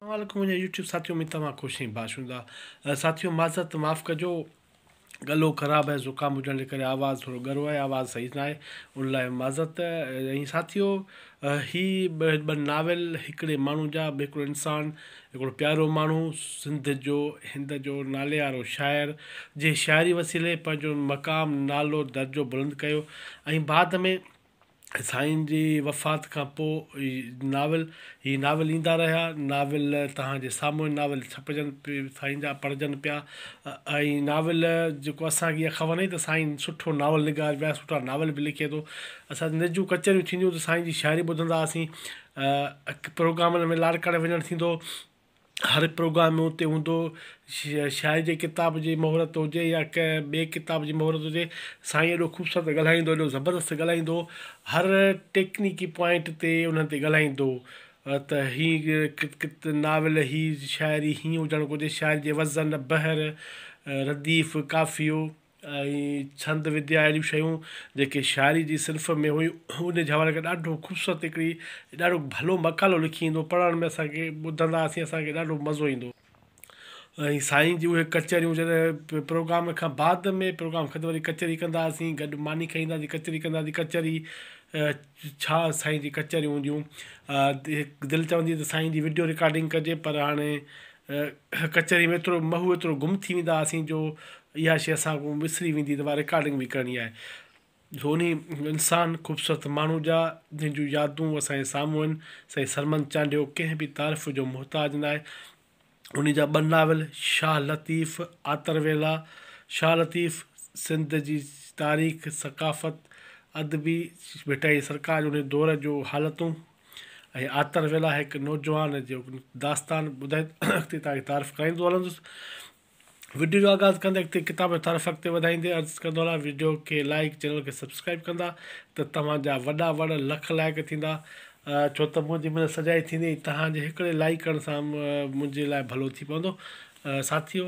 اسلام عليڪم منهنجي يوٽيوب ساٿي اميد توهان خوش ۽ باشوندا ساٿيو معذرت معاف ڪجو ڳلو خراب ۽ زڪام هجڻ جي ڪري آواز ٿورو ڳرو آهي آواز صحيح نه آهي ان لاء معذرت ۽ ساٿيو هي ٻه ناول هڪڙي ماڻهو جا به هڪڙو انسان هڪڙو پيارو ماڻهو سنڌ جو هند جو نالي وارو شاعر جنهن شاعري وسيلي پنهنجو مقام نالو درجو بلند ڪيو ۽ بعد ۾ سائين جي وفات کان پوء ناول هي ناول ايندا رهيا ناول توهان جي سامهون ناول ڇپجن سائين جا پڙهجن پيا ۽ ناول جيڪو اسان کي اها خبر نه هئي ته سائين سٺو ناول نگار بي حد سٺا ناول به لکي ٿو اسان جي نجون ڪچهريون ٿينديون هيون ته سائين جي شاعري ٻڌندا هئاسين پروگرامن ۾ لاڙڪاڻي وڃڻ ٿيندو هو هر پروگرام ۾ اتي هوندو هو. شاعر جي ڪتاب جي مهورت هجي يا ڪنهن ٻئي ڪتاب جي مهورت هجي سائين ايڏو خوبصورت ڳالهائيندو هو ايڏو زبردست ڳالهائيندو هو هر ٽيڪنيڪي پوائنٽ تي انهن تي ڳالهائيندو هو ته هي ناول هي شاعري هيئن هجڻ گهرجي شاعر جي وزن بحر رديف قافيو ۽ ڇند وديا اهڙيون شيون جيڪي شاعري جي صنف ۾ هيون ان جي حوالي کان ڏاڍو خوبصورت هڪڙي ڏاڍو ڀلو مقالو لکي ايندو هو پڙهڻ ۾ اسان کي ٻڌنداسين اسان کي ڏاڍو مزو ايندو ۽ سائين جي اهي ڪچهريون جڏهن پروگرام کان بعد ۾ پروگرام کان واري ڪچهري ڪنداسين گڏ ماني کائينداسين ڪچهري ڪنداسين ڪچهري ڇا سائين جي ڪچهريون هونديون دل چوندي هئي ته سائين جي وڊيو رڪارڊنگ ڪجي پر هاڻي ڪچهري ۾ ايترو مهو ايترو گم ٿي ويندا هئاسين جو اها شي اسان کان وسري ويندي ته اها رڪارڊنگ به ڪرڻي آهي جو انهي انسان خوبصورت ماڻهو جا جنهن جون يادون اسان جي سامهون آهن سائين سرمد چانڊيو ڪنهن به تعارف جو محتاج ناهي انهي جا ٻه ناول شاهه لطيف آتر ويلا شاهه لطيف سنڌ جي تاريخ ثقافت ادبي ڀٽائي سرڪار انهي دور جو حالتون ۽ آتر ويلا هڪ نوجوان جو داستان ٻڌائي اڳتي توهان کي تعارف ڪرائيندو هلندس. وڊيو جو آغاز ڪندي اڳتي ڪتاب جو تعارف اڳتي وڌائيندي عرض ڪندو هلان وڊيو کي لائيڪ چينل کي سبسڪرائيب ڪندا ته توهان جا وڏا وڙ لک لائق ٿيندا ڇو ته منهنجي مدد سجائي ٿيندي ۽ توهان جي هڪڙي لائيڪ ڪرڻ سان منهنجي لاء ڀلو ٿي پوندو ساٿيو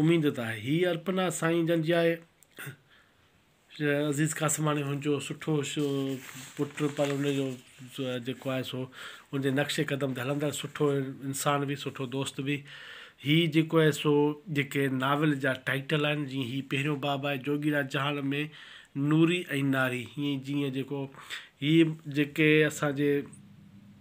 اميد ته آهي هي ارپنا سائين جن جي آهي. عزيز قاسماڻي هن جو سٺو پٽ پر ان جو جيڪو آهي سو ان جي نقش قدم تي هلندڙ سٺو انسان به سٺو دوست به هي جيڪو آهي سو جيڪي ناول جا ٽائيٽل آهن جيئن هي پهريون باب آهي جوڳيڙا جهان ۾ نوري ۽ ناري هيئن جيئن جيڪو هي جيڪي اسان جي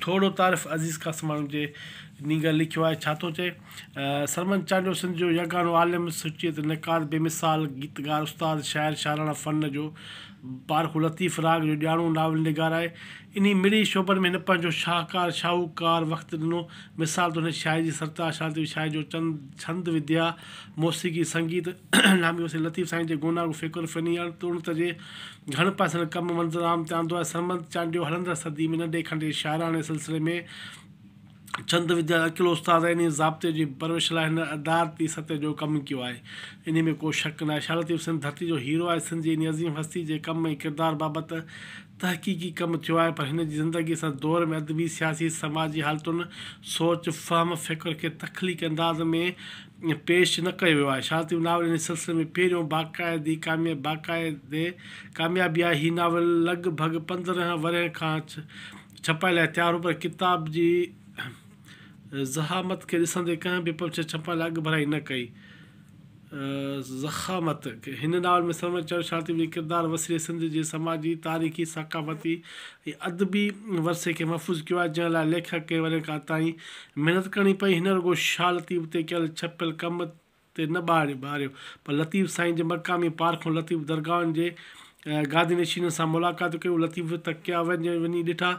ٿورڙو تعارف عزيز قاسماڻي جي نينگر لکيو آهي ڇا ٿو چئي سرمد چانڊيو سنڌ جو يگانو عالم، سچيت، نقاد، بي مثال گيتڪار، استاد، شاعر، شاعراڻه فن جو پارکو، لطيف راڳ جو ڄاڻو ناول نگار آهي. انهي مڙئي شعبن ۾ هن پنهنجو شاهڪار، شاهوڪار، وقت ڏنو. مثال طور هن شاعري جي سرتاء شانتي، شاعري جو چند، ڇند وديا، موسيقي، سنگيت، نامي وسيع لطيف سائين جي گونا گو فڪر فني اڻ تڻت جي گهڻ پاسن ڪم منظر عام تي آندو آهي سرمد چانڊيو هلندڙ صدي ۾ ننڍي کنڊي شاعراڻي سلسلي ۾ ڇند وديا جو اڪيلو استاد آهي انهيء ضابطي جي پرورش لاء هن ادارتي سطح جو ڪم ڪيو آهي انهيء ۾ ڪو شڪ ناهي شاهه لطيف سنڌ ڌرتي جو هيرو آهي سنڌ جي انهيء عظيم هستي جي ڪم ۽ ڪردار بابت تحقيقي ڪم ٿيو آهي پر هن جي زندگي سان دور ۾ ادبي سياسي سماجي حالتن سوچ فهم فڪر کي تخليقي انداز ۾ پيش نه ڪيو ويو آهي. شانتي ناول هن سلسلي ۾ پهريون باقاعدي باقاعدي ڪاميابي آهي. هي ناول لڳ ڀڳ پندرهن ورهين کان ڇپائي لاء تيار هو پر ڪتاب جي ضخامت کي ڏسندي ڪنهن به پبلشر ڇپائي لاء اڳڀرائي نه ڪئي. ضخامت هن ناول ۾ سرورچ چيو شانتي جي ڪردار وسيلي سنڌ جي سماجي، تاريخي، ثقافتي ۽ ادبي ورثي کي محفوظ ڪيو آهي جنهن لاء ليکڪ ڪئين ورهين کان تائين محنت ڪرڻي پئي، هن رڳو شاهه لطيف تي ڪيل ڇپيل ڪم تي نه ٻار ٻاريو، پر لطيف سائين جي مقامي پارکون لطيف درگاهن جي گادي نشينن سان ملاقاتون ڪيون، لطيف تڪيا وڃي ڏٺا،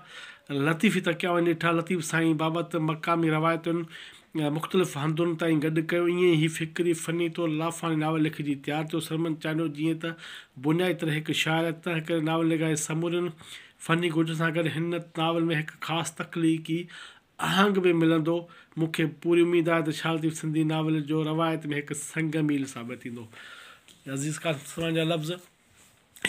لطيف ئي تڪيا وڃي ڏٺا، لطيف سائين بابت مقامي روايتن مختلف هنڌن تائين گڏ ڪيو، ائين ئي هي فڪري فني طور لافاني ناول لکجي تيار ٿيو، سرمن چانڊيو جيئن ته بنيادي طرح هڪ شاعر آهي، تنهنڪري ناولنگاري سمورين فني گهرجن سان گڏ هن ناول ۾ هڪ خاص تخليقي آهنگ به ملندو. مون کي پوري اميد آهي ته شاهه لطيف سنڌي ناول جو روايت ۾ هڪ سنگ ميل ثابت ٿيندو. عزيز قاسم سرواڻي جا لفظ،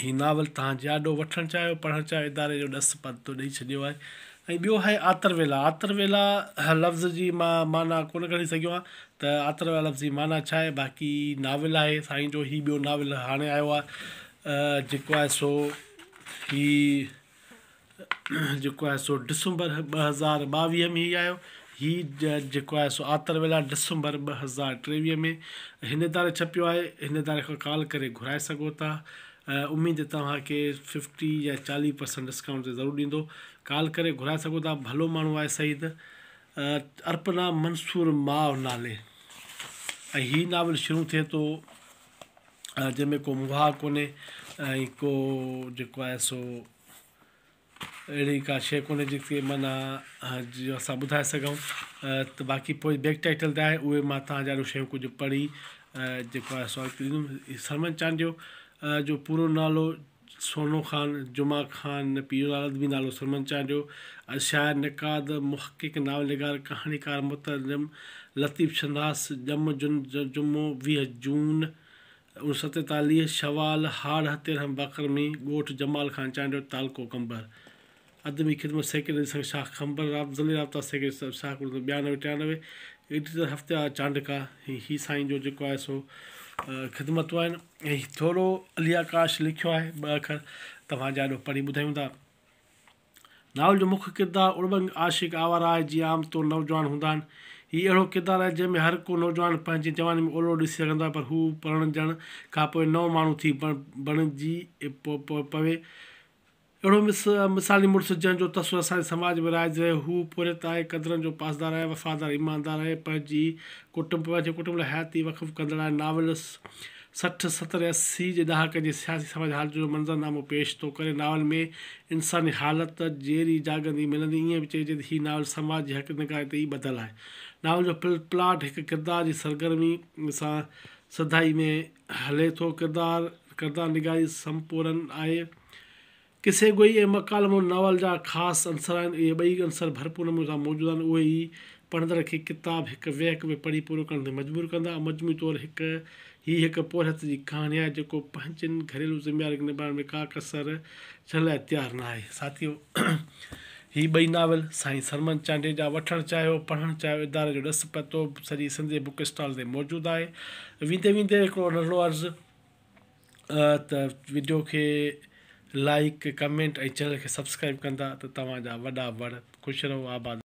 هي ناول توهان جياڏو وٺڻ چاهيو، پڙهڻ چاهيو، اداري جو ڏس پرتو ڏئي ڇڏيو آهي. ۽ ٻيو آهي آتر ويلا. آتر ويلا لفظ جي مان معنيٰ ڪونه ڪڍي سگهيو آهيان ته آتر ويلا لفظ جي معنيٰ ڇا آهي، باقي ناول آهي سائين جو هي ٻيو ناول هاڻي آيو آهي جيڪو آهي سو هي جيڪو آهي سو ڊسمبر ٻه هزار ٻاويهه ۾ هي آيو هي جيڪو آهي سو آتر ويلا ڊسمبر ٻه هزار ٽيويهه ۾ هن اداري ڇپيو آهي هن اداري کان ڪال ڪري گهرائي سگهو ٿا اميد توهان کي ففٽي يا چاليهه پرسنٽ ڊسڪائونٽ تي ضرور ڏيندو ڪال ڪري گهرائي سگهو ٿا ڀلو ماڻهو آهي سعيد ارپنا منصور ماء نالي ۽ هي ناول شروع ٿئي ٿو جنهن ۾ ڪو مهاء ڪونهي ۽ ڪو جيڪو آهي سو اهڙي ڪا شيء ڪونهي جيڪي معنيٰ جيئن اسان ٻڌائي سگهون ته باقي پوء بيڪ ٽائيٽل تي آهي اهي ما تهان جهڙو شيون ڪجهه پڙهي جيڪو آهي سو سرمن چانڊيو جو پورو نالو سونو خان، جمعه خان، ۽ پير لالا ادبي نالو سرمن چانڊيو، ۽ شاعر، نقاد، محقق، ناول نگار، ڪهاڻيڪار، مترجم لطيف شناس ڄم جن جمعو ويهه جون اوڻ سؤ ستيتاليهه شوال هاڙهه تيرنهن بقرمي ڳوٺ جمال خان چانڊيو تعلقو قمبر. ادبي خدمت سيڪريٽري سنگهه شاخ کنڀر، ضلعي رابطا سيڪريٽري صاحب شاخ ڪلهه ٻيانوي ٽيانوي، ايڊيٽر هفتيار چانڊڪا هي هي سائين جو جيڪو آهي سو خدمتون آهن ۽ ٿورو علي آڪاش لکيو آهي ٻه اکر توهان جي آڏو پڙهي ٻڌايون ٿا ناول جو مک ڪردار اڙٻنگ عاشق آوارا آهي جيئن عام طور نوجوان هوندا آهن هي اهڙو ڪردار آهي جنهن ۾ هر ڪو نوجوان پنهنجي جواني ۾ اولڙو ڏسي سگهندو آهي پر هو پرڻجڻ کانپوء نئون ماڻهو ٿي بڻجي پوي اهڙو مس مثالي مڙس جنهن جو تصور اسان جي سماج ۾ رائج رهيو هو پورهيت آهي قدرن جو پاسدار آهي وفادار ايماندار آهي پنهنجي ڪٽنب پنهنجي ڪٽنب لاء حياتي وقف ڪندڙ آهي ناولس سٺ ستر ۽ اسي جي ڏهاڪن جي سياسي سماجي حالتن جو منظر نامو پيش ٿو ڪري ناول ۾ انساني حالت جيري جاڳندي ملندي ائين به چئجي ته هي ناول سماج جي حق نگاري تي ئي ٻڌل آهي ناول جو پلاٽ هڪ ڪردار جي سرگرمي سان سڌائي ۾ هلي ٿو ڪردار ڪردار نگاري سمپورن آهي قصي گوئي ۽ مڪالمو ناول جا خاص عنصر آهن. اهي ٻئي عنصر ڀرپور نموني سان موجود آهن. اهي ئي پڙهندڙ کي ڪتاب هڪ ويهڪ ۾ پڙهي پورو ڪرڻ تي مجبور ڪندا. مجموعي طور هڪ هي هڪ پورهيت جي ڪهاڻي آهي، جيڪو پنهنجين گهريلو ذميوارين کي نباهڻ ۾ ڪا ڪسر ڇڏڻ لاء تيار نه آهي. ساٿيو! هي ٻئي ناول سائين سرمن چانڊيي جا وٺڻ چاهيو، پڙهڻ چاهيو، اداري جو ڏس پتو به سڄي سنڌ جي بوڪ اسٽال تي موجود آهي. ويندي ويندي هڪڙو نرڙو عرض. ته وڊيو کي لائڪ ڪمينٽ ۽ چينل کي سبسڪرائب ڪندا ته توهان جا وڏا وڙ خوش رهو آباد رهو.